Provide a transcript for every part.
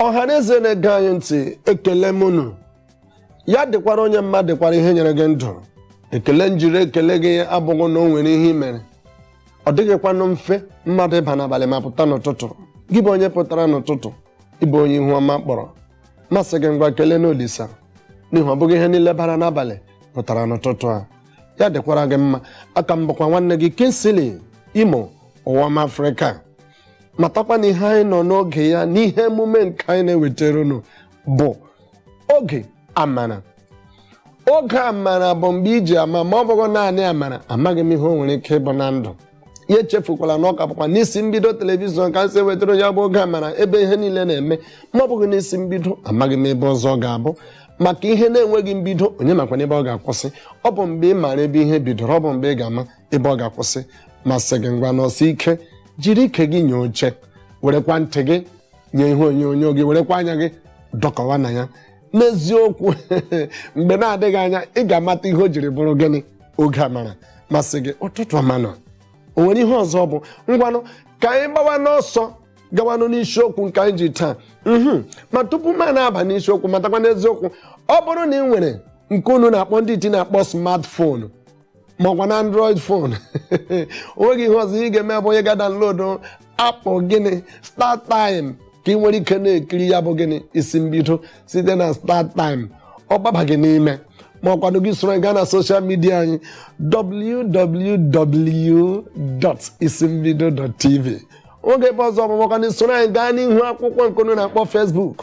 ọha na eze na-ege anyị ntị ekele m unu ya dịkwara onye mma dịkwara ihe nyere gị ndụ ekele m jiri ekele gị abụghị na o nwere ihe i mere ọ dịghịkwanụ mfe mmadụ ịba n'abalị ma pụta n'ụtụtụ gị bụ onye pụtara n'ụtụtụ ịbụ onye ihu ọma kpọrọ m asị gị ngwa keleenụ olisa n'ihi ọ bụghị ihe niile bara n'abalị pụtara n'ụtụtụ a ya dịkwara gị mma a ka m bụkwa nwanne gị Kingsley Imo Ụwaọma Afrịka matakwa na ihe anyị nọ n'oge ya n'ihe emume nke anyị na-ewetara unu bụ oge amara oge amara bụ mgbe e ji ama ma ọ bụghị naanị amara amaghị m ihe o nwere ike ịbụ na ndụ ya echefukwala na ọ ka bụkwa n'isi mbido telivishọn ka m si wetara ya bụ oge amara ebe ihe niile na-eme ma ọ bụghị n'isi mbido amaghị m ebe ọzọ ọ ga-abụ maka ihe na-enweghị mbido onye makwanụ ebe ọ ga-akwụsị ọ bụ mgbe ị maara ebe ihe bidoro ọ bụ mgbe ị ga-ama ebe ọ ga-akwụsị m asị gị ngwa nọsie ike jiri ike gị nye oche werekwa ntị gị nye ihe onyonyo gị werekwa anya gị dọkọwa na ya n'eziokwu mgbe na-adịghị anya ị ga-amata ihe o jiri bụrụ gịnị oge amara m asị gị ụtụtụ ọma nụ o nwere ihe ọzọ bụ ngwanụ ka anyị gbawanụ ọsọ gawanụ n'isiokwu nke anyị ji taa mhm. ma tupu m na-aba n'isiokwu matakwa n'eziokwu ọ bụrụ na ị nwere nke unu na-akpọ ndị iti na-akpọ smartphone ma ọkwanụ android phone onweghị ihe ọzọ ị ga-eme bụ ịga download app bụ gịnị StarTimes ka ị nwere ike na-ekiri ya bụ gịnị isi mbido site na StarTimes ọ gbaba gị n'ime ma ọkwanụ gị isoro anyị gaa na social media anyị www.isimbido.tv onweghị ebe ọzọ ọ bụ ma ọkwanụ isoro anyị gaa n'ihu akwụkwọ nke unu na-akpọ Facebook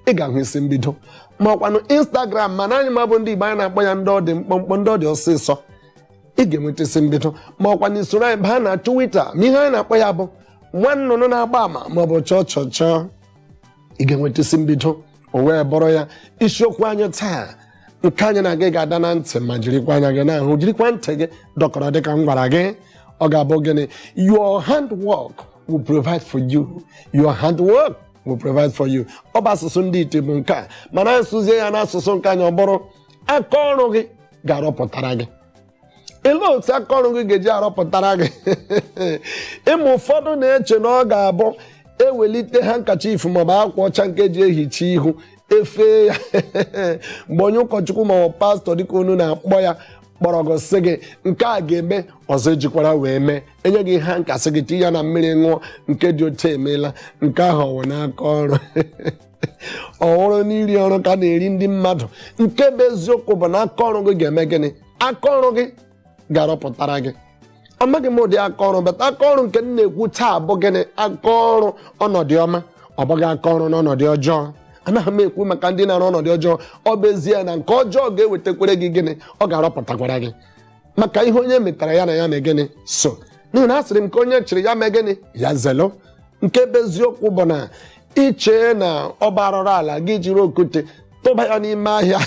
ị ga-ahụ isi mbido ma ọkwanụ instagram mana anyị nwa bụ ndị igbo anyị na-akpọ ya ndị ọ dị mkpọmkpọ ndị ọ dị ọsịsọ ị ga-enweta isi mbido ma ọkwanụ isoro anyị baa na twitter ma ihe anyị na-akpọ ya bụ nwa nnụnụ na-agba ama ma ọ bụ chọọ chọọ chọọ ị ga-enweta isi mbido o wee bụrụ ya isiokwu anyị taa nke anyị na gị ga-ada na ntị ma jirikwa anya gị na-ahụ jirikwa ntị gị dọkọrọ dịka m gwara gị ọ ga-abụ gịnị your handwork will provide for you your handwork will provide for you ọ bụ asụsụ ndị iti bụ nke a mana asụzie ya n'asụsụ nke anyị ọ bụrụ aka ọrụ gị ga-arụpụtara gị ele otu aka ọrụ gị ga-eji arọpụtara gị ị ma ụfọdụ na-eche na ọ ga-abụ ewelite handkerchief maọbụ akwa ọcha nke eji ehicha ihu efee ya mgbe onye ụkọchukwu maọbụ pastor dịka unu na-akpọ ya kpọrọ gị sị gị nke a ga-eme ọzọ ejikwara wee mee e nye gị hanky sị gị tinye ya na mmiri ṅụọ nke dị otu emeela nke ahụ ọ wụ na aka ọrụ ọhụrụ n'iri ọrụ ka na-eri ndị mmadụ nke bụ eziokwu bụ na aka ọrụ gị ga-eme gịnị aka ọrụ gị ga-arụpụtara gị amaghị m ụdị aka ọrụ bata aka ọrụ nke m na-ekwu taa bụ gịnị aka ọrụ ọnọdụ ọma ọ bụghị aka ọrụ n'ọnọdụ ọjọọ anaghị m ekwu maka ndị na-arụ ọnọdụ ọjọọ ọ bụ ezie na nke ọjọọ ga-ewetakwere gị gịnị ọ ga-arụpụtakwara gị maka ihe onye metara ya na ya mee gịnị so n'ihi na a sịrị m ka onye chịrị ya mee gịnị ya zelo nke bụ eziokwu bụ na i chee na ọ bụ arụrụ ala gị jiri okwute tụba ya n'ime ahịa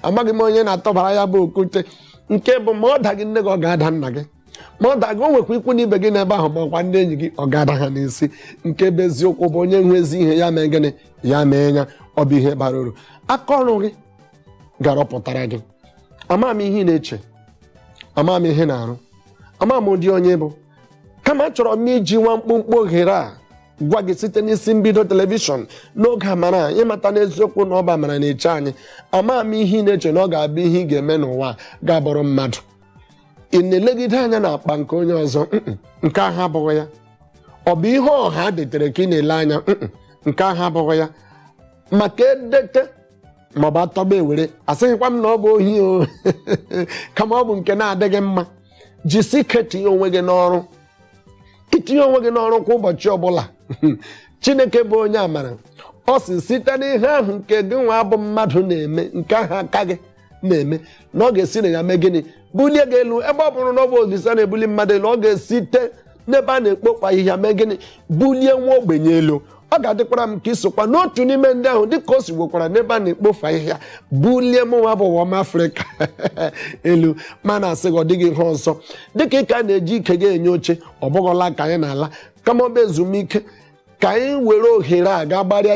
amaghị m onye na-atụbara ya bụ okwute nke bụ ma ọ daghị nne gị ọ ga-ada nna gị ma ọ daghị o nwekwa ikwu na ibe gị n'ebe ahụ ma ọkwa ndị enyi gị ọ ga-ada ha n'isi nke bụ eziokwu bụ onye nwe ezi ihe ya mee gịnị ya mee ya ọ bụ ihe bara uru aka ọrụ gị ga-arụpụtara gị ama m ihe ị na-eche ama m ihe ị na-arụ ama m ụdị onye ị bụ kama achọrọ m iji nwa mkpụmkpụ ohere a gwa gị site n'isi mbido telivishọn n'oge amara ịmata n'eziokwu na ọ bụ amara na-eche anyị ama m ihe ị na-eche na ọ ga-abụ ihe ị ga-eme n'ụwa ga-abụrụ mmadụ ị na-elegide anya n'akpa nke onye ọzọ nke ahụ abụghị ya ọ bụ ihe ọha detere ka ị na-ele anya nke ahụ abụghị ya maka edete maọbụ atọba ewere asịghịkwa m na ọ bụ ohi o kama ọ bụ nke na-adịghị mma jisi ike tinye onwe gị n'ọrụ itinye onwe gị n'ọrụ kwa ụbọchị ọbụla chineke bụ onye amara ọ sị site n'ihe ahụ nke gị nwa bụ mmadụ na-eme nke ahụ aka gị na-eme na ọ ga-esi na ya mee gịnị bulie gị elu ebe ọ bụrụ na ọ bụ olisa na-ebuli mmadụ elu ọ ga-esite n'ebe a na-ekpofu ahịhịa mee gịnị bulie nwa ogbenye elu ọ ga-adịkwara m ka i sokwa n'otu n'ime ndị ahụ dịka o si wekwara n'ebe a na-ekpofu ahịhịa bulie mụnwa bụ ụwa m afrịka elu ma na-asị gị ọ dịghị ihe ọzọ dịka ị ka na-eji ike gị enye oche ọ bụghịla ka anyị na-ala kama ọ bụ ezumike ka anyị were ohere a ga gbarịa ya